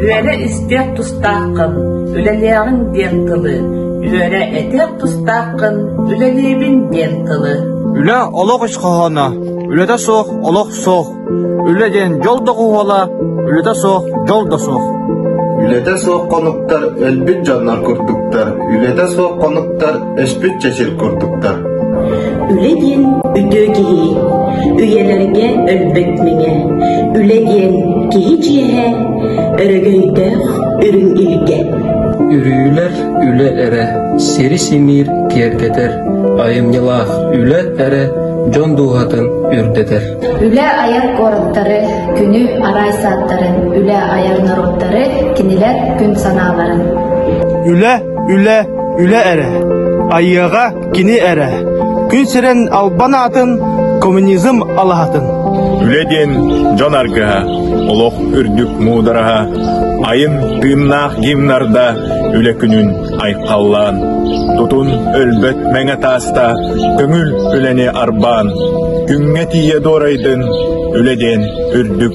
Үөрэ истиэх тустааххын, үлэлиэҕиҥ диэн тылы. Үөрэ этиэх тустааххын, үлэлиибин диэн тылы. Үлэ олох ис хоһооно, үлэтэ суох олох суох. Үлэ диэн дьол да хоһооно, үлэтэ суох дьол да суох. Үлэтэ суох хонуктар өлбүт дьоннор курдуктар. Үлэтэ суох хонуктар Өспүт чэчир курдуктар. Үлэ диэн үтүө киһи, үйэлэргэ өлбөт мэҥэ. Үлэ диэн киһи чиэһэ, өрөгөйдөөх үрүҥ илгэ. Үрүүлэр үлэ эрэ, сири симиир киэргэтэр, айымньылаах үлэ эрэ дьон дууһатын үрдэтэр. Үлэ айар куораттары, күнү арай сааттарын, үлэ айар норуоттары кинилэр күн санааларын. Үлэ Үлэ, үлэ эрэ. Айыаҕа кини эрэ. Күн сирин албан аатын, коммунизм алаһатын. Үлэ диэн дьон аргыһа, олох үрдүк муудараһа, айын тыыннаах гимнарда үлэ күнүн айхаллаан, тутун өлбөт мэҥэ тааста, көҥүл үлэни арбаан, күҥҥэ тиийэ дуорайдын, үлэ диэн үрдүк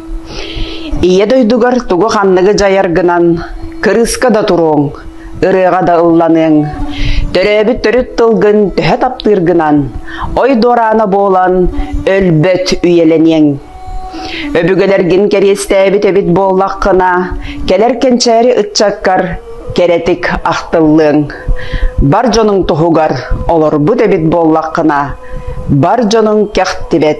Ийэ дойдугар тугу ханныгы дьайаргынан кырыыска да туруоҥ, ырыаҕа да ылланыаҥ, төрөөбүт төрүт тылгын төһө таптыыргынан, ой дуораана буолан өлбөт үйэлэниэҥ. Өбүгэлэргин кэриэстээбит эбит буоллаххына, кэлэр кэнчээри ыччаккар кэрэтик ахтыллыаҥ. Бар дьонуҥ туһугар олорбут эбит буоллаххына, бар дьонуҥ кэхтибэт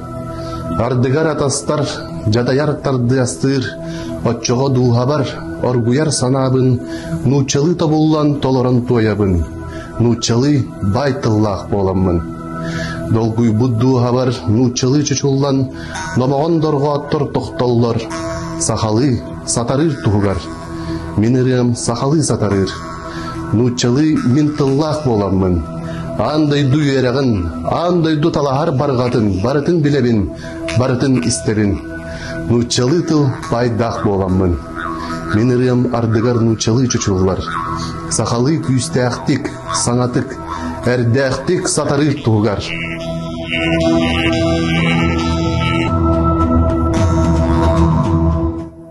Бардыгар атастар, дьадайар тардыастыыр, оччоҕо дууһабар оргуйар санаабын нууччалыы тобуллан толорон туойабын. Нууччалыы баай тыллаах буоламмын. Долгуйбут дууһабар нууччалыы чочуллан, номоҕон дорҕооттор тохтоллор, сахалыы сатарыыр туһугар. Мин ырыам сахалыы сатарыыр. Нууччалыы мин тыллаах буоламмын, аан дойду үөрэҕин, аан дойду талаһар барҕатын барытын билэбин, барытын истэрин. Нууччалыы тыл пайдаах буоламмын. Мин ырыам ардыгар нууччалыы чочуллар. Сахалыы күүстээхтик, саҥатык, эрдээхтик сатарыыр туһугар.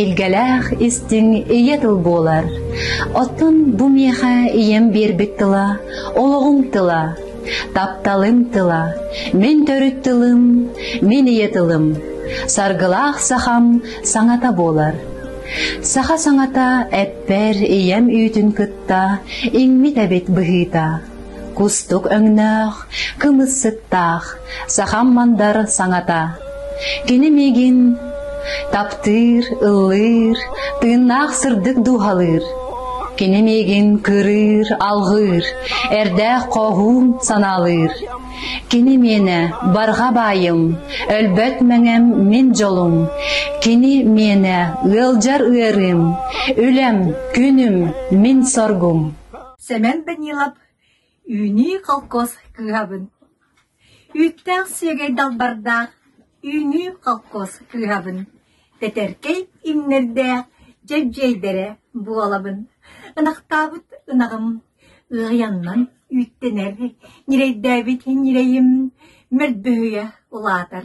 Илгэлээх истиҥ ийэ тыл буолар. Оттон бу миэхэ ийэм биэрбит тыла олоҕум тыла, тапталым тыла, мин төрүт тылым, мин ийэ тылым. Саргылаах сахам саҥата буолар. Саха саҥата эппэр ийэм үүтүн кытта иҥмит эбит быһыыта. Кустук өҥнөөх, кымыссыттаах, сахам мандар саҥата. Кини миигин таптыыр, ыллыыр, тыыннаах сырдык дууһалыыр. Кини миигин кырыыр, алҕыыр, эрдээх хоһуун санаалыыр. Кини миэнэ барҕа баайым, өлбөт мэҥэм мин дьолум. Кини миэнэ ыалдьар ыарыым, үлэм, күнүм, мин соргум. Сэмэн Данилов Үүнүү холкуос кыһабын Үүттээх сүөгэй далбардаах Үүнүү холкуос кыһабын Тэтэркэй имнэрдээх дьэбдьиэйдэрэ буолабын Ынахтаабыт ынаҕым Ыаяннан үүттэнэр Ньирэйдээбит ньирэйим Мөлбөһүйэ улаатар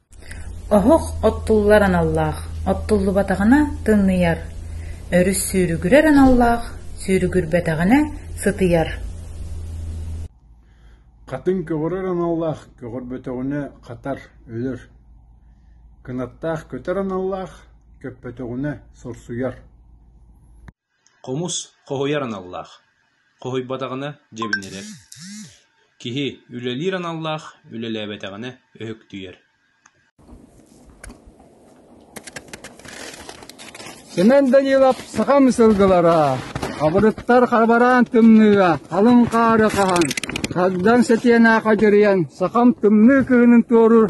Оһох оттуллар аналлаах, оттуллубатаҕына тымныйар, өрүс сүүрүгүрэр аналлаах, сүүрүгүрбэтэҕинэ сытыйар. Хатыҥ көҕөрөр аналлаах, көҕөрбөтөҕүнэ хатар, өлөр. Кынаттаах көтөр аналлаах, көппөтөҕүнэ сорсуйар. Хомус хоһуйар аналлаах, хоһуйбатаҕына дьэбинирэр, киһи үлэлиир аналлаах үлэлээбэтэҕинэ өһүктүйэр Семен Данилов сахам сылгылара, абырыттар хабараан тымныыга халыҥ хаары хаһан, хагдан сэтиэнэ хадьырыйан сахам тымныы кыһынын туоруур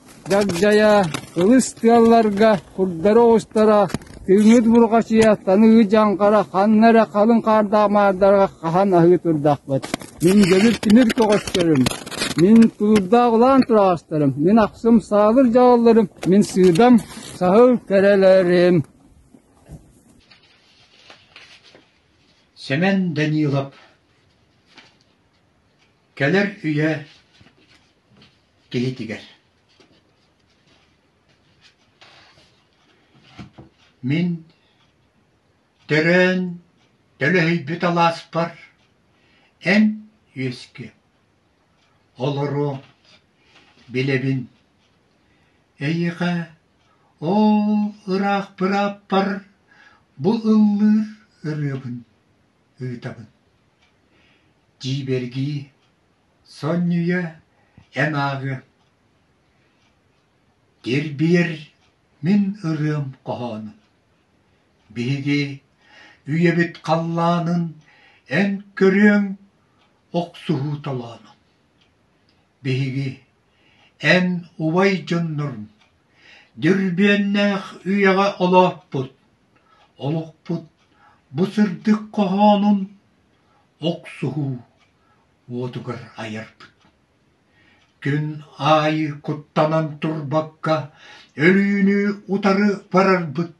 Дагдайа, ылыс тыалларга курдары оҕустара, тыыҥҥыт бурҕачыйа, таныгы дьаҥхара ханна эрэ халыҥ хаардаах маардарга хаһан аһыы турдахпыт. Мин дьэбир тимир көҕөстөрүм, мин тулуурдаах улаан тураҕастарым, мин ахсым саабыр дьаҕалларым, мин сыыдам саһыл кэрэлэрим Сэмэн Данилов Кэлэр үйэ киһитигэр. Мин төрөөн төлөһүйбүт алааспар эн үөскүө. Олору билэбин. Эйиэхэ оо ыраах бырааппар бу ыллыыр ырыабын. ыытабын дьиибэргии сонньуйа эн ааҕыам тирбиэр мин ырыам хоһоонун биһиги үйэбит халлаанын эн көрүөҥ охсуһуу толоонун биһиги эн убай дьоннорум Дьөрбүөннээх үйэҕэ олооппут, олохпут бу сырдык хоһоонун охсуһуу уотугар айарбыт. Күн аайы куттанан турбакка, өлүүнү утары барарбыт,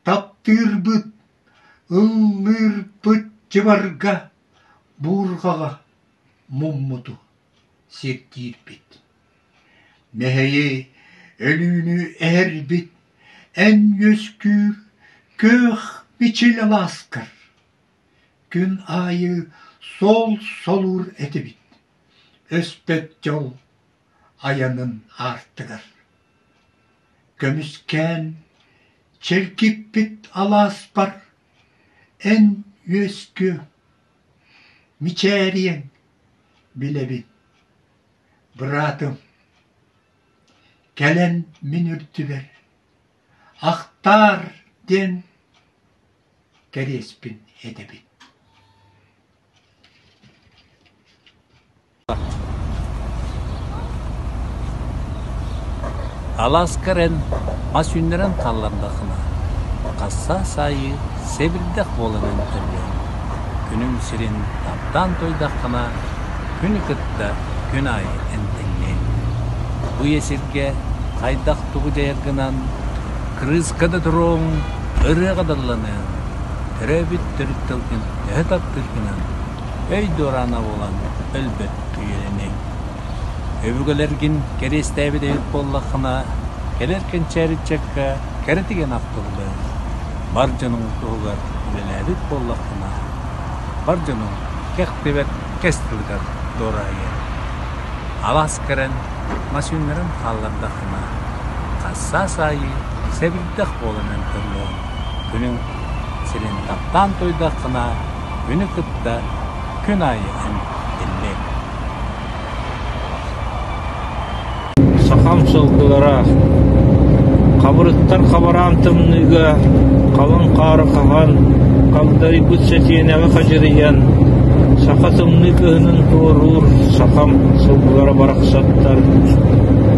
таптыырбыт, ыллыырбыт дьыбарга, буурҕаҕа муммуту сирдиирбит. Мэһэйи, өлүүнү эһэрбит эн үөскүүр күөх бичил алааскар Күн аайы суол солуур этибит өспөт дьол айанын аартыгар. Көмүскээн чэлгиппит алааспар эн үөскүө, мичээриэҥ билэбин Быраатым, кэлэн мин үрдүбэр «Ахтаар» диэн кэриэспин этэбин Алааскар эн мас үүннэрэн хааллардахына, хасsaa саайыы сэбирдэх буолан эмтэллэр. Күнүҥ сирин таптаан туойдаххына, Күнү кытта күн аайы эмтэнньэҥ. Үйэ сиргэ хайдах-тугу дьайаргынан, кырыыска да туруоҥ, ырыаҕа дылланыаҥ, төрөөбүт төрүт тылгын төһө таптыыргынан, өй-дуораана буолан өлбөт үйэлэниэҥ. Өбүгэлэргин кэриэстээбит эбит буоллаххына, кэлэр кэнчээри ыччакка кэрэ тигэн ахтыллыаҥ. Бар дьонуҥ туһугар үлэлээбит буоллаххына, бар дьонуҥ кэх баттыктыбыт кэс тылыгар дуораайы алаас кэлэн массыыннарын хааллардаххына хассаас аайы сэбирдэх буолан өлтөрүөҥ күнүҥ сирин таптаан туойдаххына күнү кытта күн аайы эмтиллиэҥ Сахам сылгылара Хабырыттар хабараан тымныыга халыҥ хаары хаһан, хагдарыйбыт сэтиэнэҕи хадьырыйан, саха тымныы кыһынын туоруур сахам сылгылара барахсаттар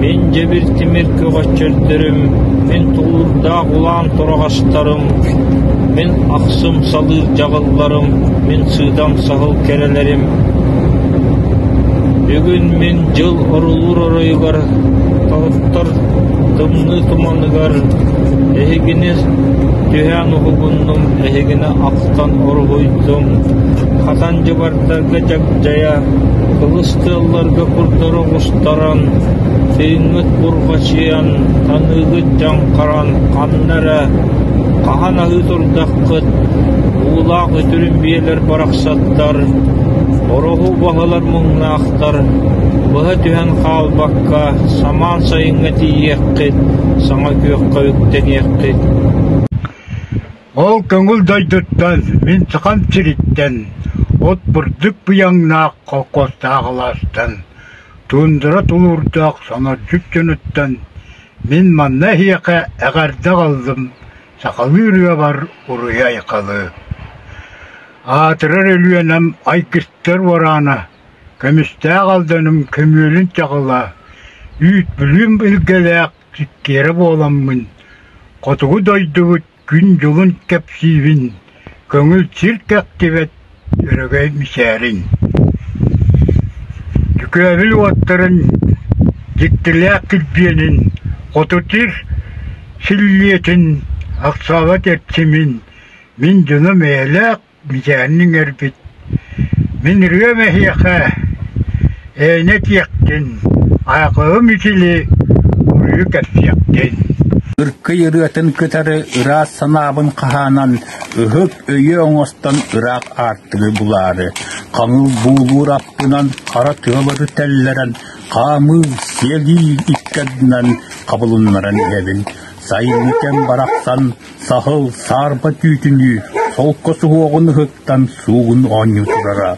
мин дьэбир тимир көҕөччөрдөрүм, мин тулуурдаах улаан тураҕастарым, мин ахсым салыыр дьаҕылларым, мин сыыдам саһыл кэрэлэрим Бүгүн мин дьыл орулуур оройугар торохтор тымныы туманыгар эһигини түһээн уһугуннум, эһигини ахтан уруһуйдум, хатан дьыбардарга дьагдьайа, кылыс тыалларга курдары оҕустаран, тыыҥҥыт бурҕачыйан, таныыгыт дьаҥхаран ханна эрэ хаһан аһыы турдаххыт, уулаах үтүрүм биэлэр барахсан оттоттор, ороһу уһалар муҥнаахтар, быһа түһэн хаалбакка, самаан сайыҥҥа тиийиэххит, саҥа күөххэ үктэниэххит. Ол көҥүл дойдуттан, мин Сахам сириттэн, от бурдук быйаҥнаах холкуостаах алаастан, туундара тулуурдаах сонордьут дьонуттан, мин манна эһиэхэ эҕэрдэ аҕаллым, Сахалыы ырыабар уруй-айхалы, аатырар Өлүөнэм ай кистэр уораана, көмүстээх Алданым көмүөлүн чаҕыла, үүт Бүлүүм илгэлээх сиккиэрэ буоламмын, хотугу дойдубут күн-дьылын кэпсиибин, Көҥүл сир тэхтибэт, өрөгөй мичээриҥ. Дьүкээбил уоттарын, дьиктилээх килбиэнин, хотутир силлиэтин, ахсаабат эрчимин, мин дьону мээйлээх мичээрин иҥэрбит Мин ырыам эһиэхэ ээнэ этиэхтин, айакаҕым итили уруйу кэпсиэхтин Ыркый ырыатын кытары ыраас санаабын хаһаанан ыһык өйү оҥостон ыраах аартыгы булаары, хаҥыл буулуур аппынан хара тыалары тэллэрэн, хаамыы, сиэлии икки ардынан хабылыннаран иһэбин. Сайын кэм барахсан Саһыл саарба түүтүнүү солко суһуоҕун ыһыктан суугун оонньуу турара,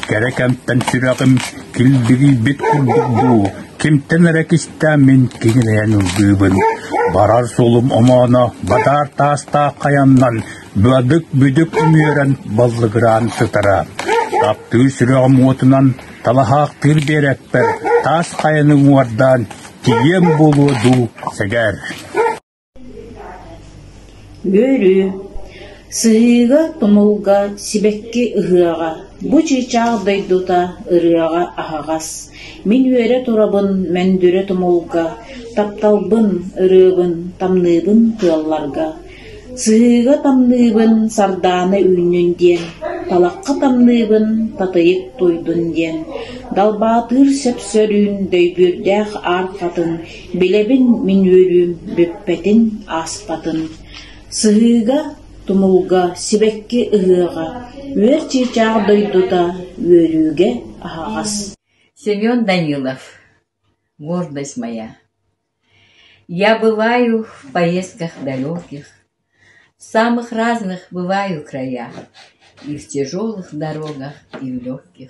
кэрэ кэмтэн сүрэҕим киллирийбит курдук дуу, кимтэн эрэ кистээммин киҥилэйэн ыллыыбын, барар суолум омооно бадаар таастаах хайаннан быадык-бүдүк үмүөрэн баллыгыраан сытара. Таптыыр сүрэҕим уотунан талаһаахтыыр биэрэппэр таас хайаны уҥуордаан тиийиэм буолуо дуу сэгэр. Үөрүү Сыһыыга, тумулга, сибэкки ыһыаҕа Бу чыычаах дойдута ырыаҕа аһаҕас Мин үөрэ турабын мөндүрэ тумулга Тапталбын, ырыабын, тамныыбын тыалларга Сыһыыга тамныыбын сардаана үүннүн диэн Талахха тамныыбын татыйык туйдун диэн Далбаатыыр сөпсөрүүн дөйбүөрдээх аар хатын Билэбин мин үөрүүм бүппэтин, ааспатын, Сыһыыга, тумулга, сибэкки ыһыаҕа, үөр чыычаах дойдута, үөрүүгэ аһаҕас. Семен Данилов «Гордость моя» Я бываю в поездках далеких, в самых разных бываю края и в тяжелых дорогах и в легких.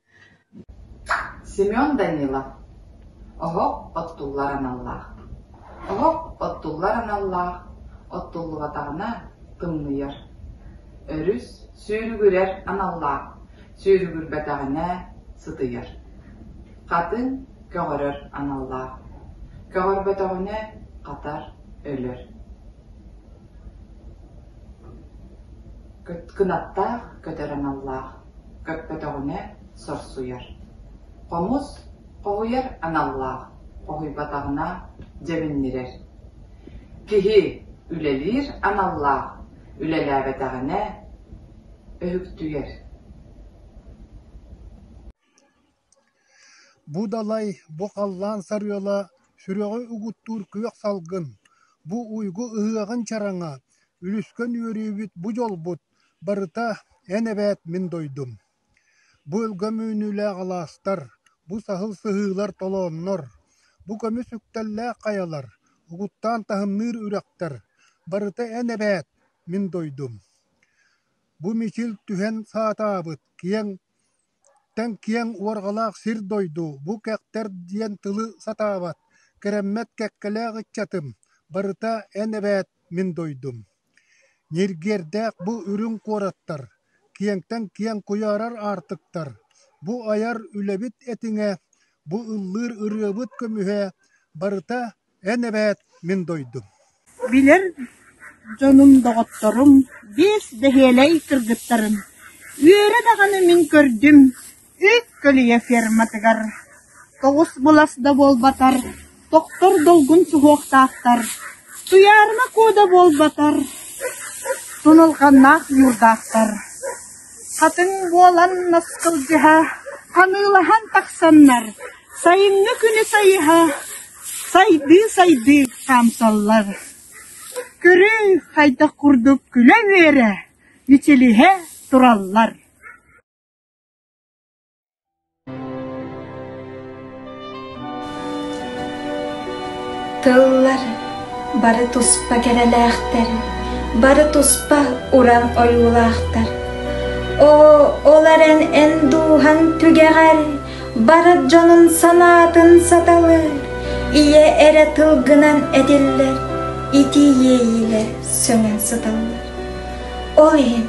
Семен Данилов Оһох оттуллар аналлаах Оһох оттуллар аналлаах Оттуллубатаҕына тымныйар Өрүс сүүрүгүрэр аналлаах Сүүрүгүрбэтэҕинэ сытыйар Хатыҥ көҕөрөр аналлаах Көҕөрбөтөҕүнэ хатар өлөр Кытгынаттаах көтөр аналлаах, көппөтөҕүнэ сорсуйар. Хомус хоһуйар аналлаах, хоһуйбатаҕына дьэбиннирэр. Киһи үлэлиир аналлаах, үлэлээбэтэҕинэ өһүктүйэр. Бу далай, бу халлаан сарыала сүрэҕи угуттуур күөх салгын, бу уйгу ыһыаҕын чараҥа, үлүскэн үөрүүбүт, бу дьолбут, барыта эн эбээт мин дойдум. Бу өлгөм үүнүүлээх алаастар, бу саһыл сыһыылар толооннор, бу көмүс үктэллээх хайалар, угуттаан таһымныыр үрэхтэр, барыта эн эбээт мин дойдум. Бу мичил түһэн саатаабыт, киэҥ Тэҥ киэҥ уорҕалаах сир-дойду, бу кэхтэр диэн тылы сатаабат, кэрэммэт кэккэлээх ыччатым, барыта эн эбээт, мин дойдум. Ньиргиэрдээх бу үрүҥ куораттар, киэҥтэн киэҥ куйаарар аартыктар, бу айар үлэбит этиҥэ, бу ыллыыр ырыабыт көмүһэ, барыта Эн эбээт мин дойдум Билэр дьонум, доҕотторум биэс бэһиэлэй кыргыттарын үөрэ даҕаны мин көрдүм үс көлүйэ ферматыгар тоҕус былас да буолбатар тохтор долгун суһуохтаахтар туйаарыма куо да буолбатар тунулҕаннаах ньуурдаахтар хатыҥ буолан наскылдьыһа ханыылаһан тахсаннар сайыҥҥы күнү сайыһа Сайдыы-сайдыы хаамсаллар, көрүүй хайдах курдук күлэ-үөрэ, мичилиһэ тураллар Тыллар бары туспа кэрэлээхтэр, бары туспа уран ойуулаахтар. Оо, ол эрэн эн дууһаҥ түгэҕэр Барыт дьонун санаатын саталыы, ийэ эрэ тылгынан этиллэр, итии иэйиилэр сөҥөн сыталлар. Ол иһин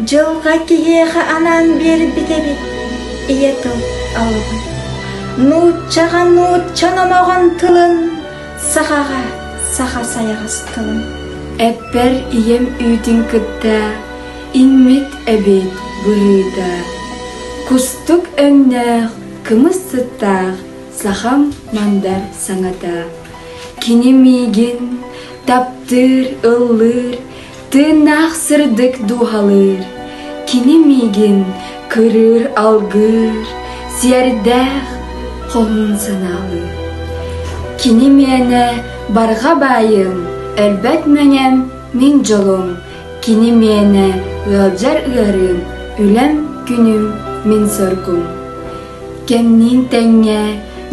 дьылҕа киһиэхэ анаан биэрбит эбит ийэ тыл алыбын. Нууччаҕа нуучча номоҕон тылын, сахаҕа саха сайаҕас тылын. Эппэр ийэм үүтүн кытта Иҥмит эбит быһыыга, кустук өҥнөөх, кымыс сыттаах сахам мандар саҥата. Кини миигин таптыыр, ыллыыр, тыыннаах сырдык дууһалыыр. Кини миигин кырыыр, алгыыр, сиэрдээх хоһун санаалыыр. Кини мээнэ барҕа баайым, өлбөт мэҥэм, мин дьолум Кини мээнэ ыалдьар ыарыым, үлэм, күнүм, мин соргум. Кэмниин тэҥҥэ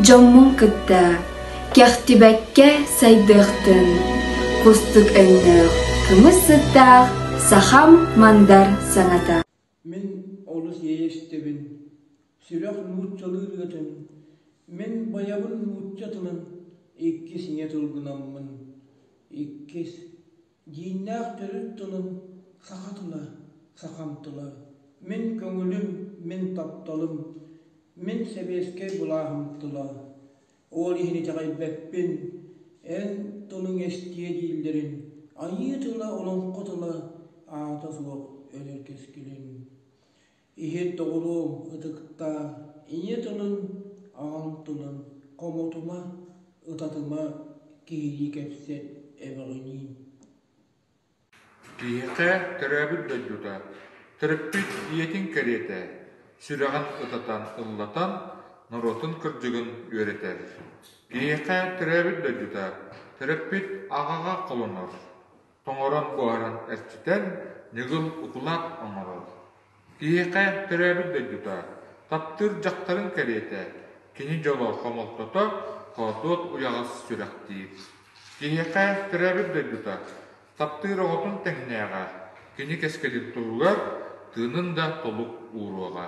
дьоммун кытта кэхтибэккэ сайдыахтын, кустук өҥнөөх, кымыс сыттаах сахам мандар саҥата. Мин олус иэйэстэбин, сүрэх нууччалыы ырыатын, мин байабын нуучча тылын иккис ийэ тылгынаммын, иккис, дьииннээх төрүт тылым саха тыла, сахам тыла, мин көҥүлүм, мин тапталым, мин сэбиэскэй былааһым тыла, Ол иһин итэҕэйбэппин, эн тылыҥ эстиэ дииллэрин айыы тыла олоҥхо тыла аата суох өлөр кэскилин. Иһит доҕоруом ытыктаа, ийэ тылын, аҕаҥ тылын хомотума, ытатыма, киһилии кэпсэт, эбэҕиниин Киһиэхэ төрөөбүт дойдута, төрөппүт ийэтин кэриэтэ, сүрэҕин ытатан ыллатан, норуотун кырдьыгын үөрэтэр. Киһиэхэ төрөөбүт дойдута, төрөппүт аҕаҕа холонор, тоҥорон буһаран эрчитэр, ньыгыл укулаат оҥорор. Киһиэхэ төрөөбүт дойдута, таптыыр дьахтарын кэриэтэ, кини дьоло, хомолтото, хоотуот уйаҕас сүрэхтиир. Киһиэхэ төрөөбүт дойдута, таптыыр оҕотун тэҥнээҕэ, кини кэскилин туһугар тыынын да толук ууруоҕа.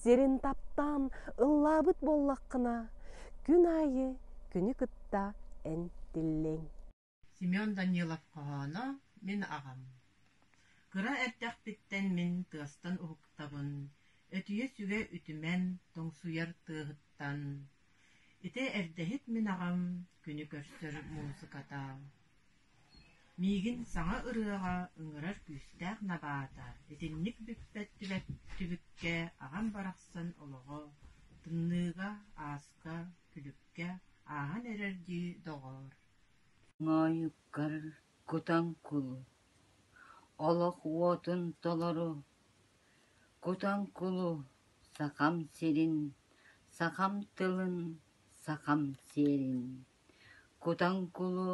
сирин таптаан ыллаабыт буоллаххына күн аайы күнү кытта эн тиллиэҥ Семен Данилов хоһооно мин аҕам Кыра эрдэхпиттэн мин тыастан уһуктабын Өтүйэ-сүгэ үтүмэн тоҥсуйар тыаһыттан Ити эрдэһит мин аҕам күнү көрсөр муусуката Миигин саҥа ырыаҕа ыҥырар күүстээх набаата итинник бүппэттибэт түбүккэ аҕам барахсан олоҕо, тымныыга, ааска, күлүккэ ааһан эрэр дии, доҕоор Моойуккар кутаҥ кул, олох уотун толору Кутаҥ кулу Сахам сирин, сахам тылын, сахам сиэрин Кутаҥкулу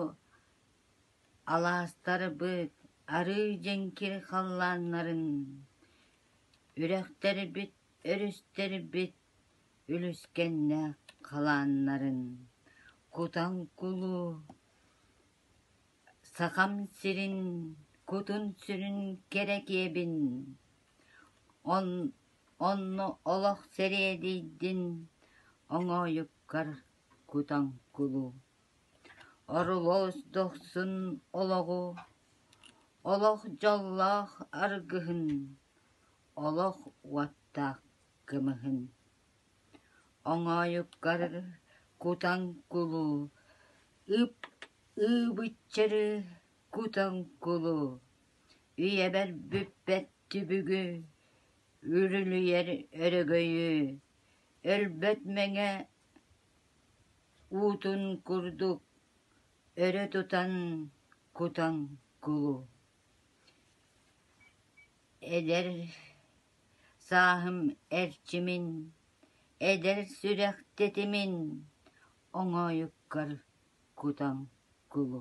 алаастарбыт арыый дьэҥкир халлааннарын, үрэхтэрбит өрүстэрбит үлүскэннээх халааннарын, Кутаҥкулу Сахам сирин кутун-сүрүн кэрэкиэбин, онно олох сэриэдийдин оҥоойуккар Кутаҥкулу, Орулуос дохсун олоҕу, Олох дьоллоох аргыһын, Олох уоттаах кымыһын. Оҥоойуккар кутаҥкулу, Ып ыбыччыры кутаҥкулу, Үйэбэр бүппэт түбүгү, Үрүлүйэр өрөгөйү, Өлбөт мэҥэ Уутун курдук өрө тутан кутан кулу Эдэр сааһым эрчимин, эдэр сүрэх тэтимин оҥоойуккар кутан кулу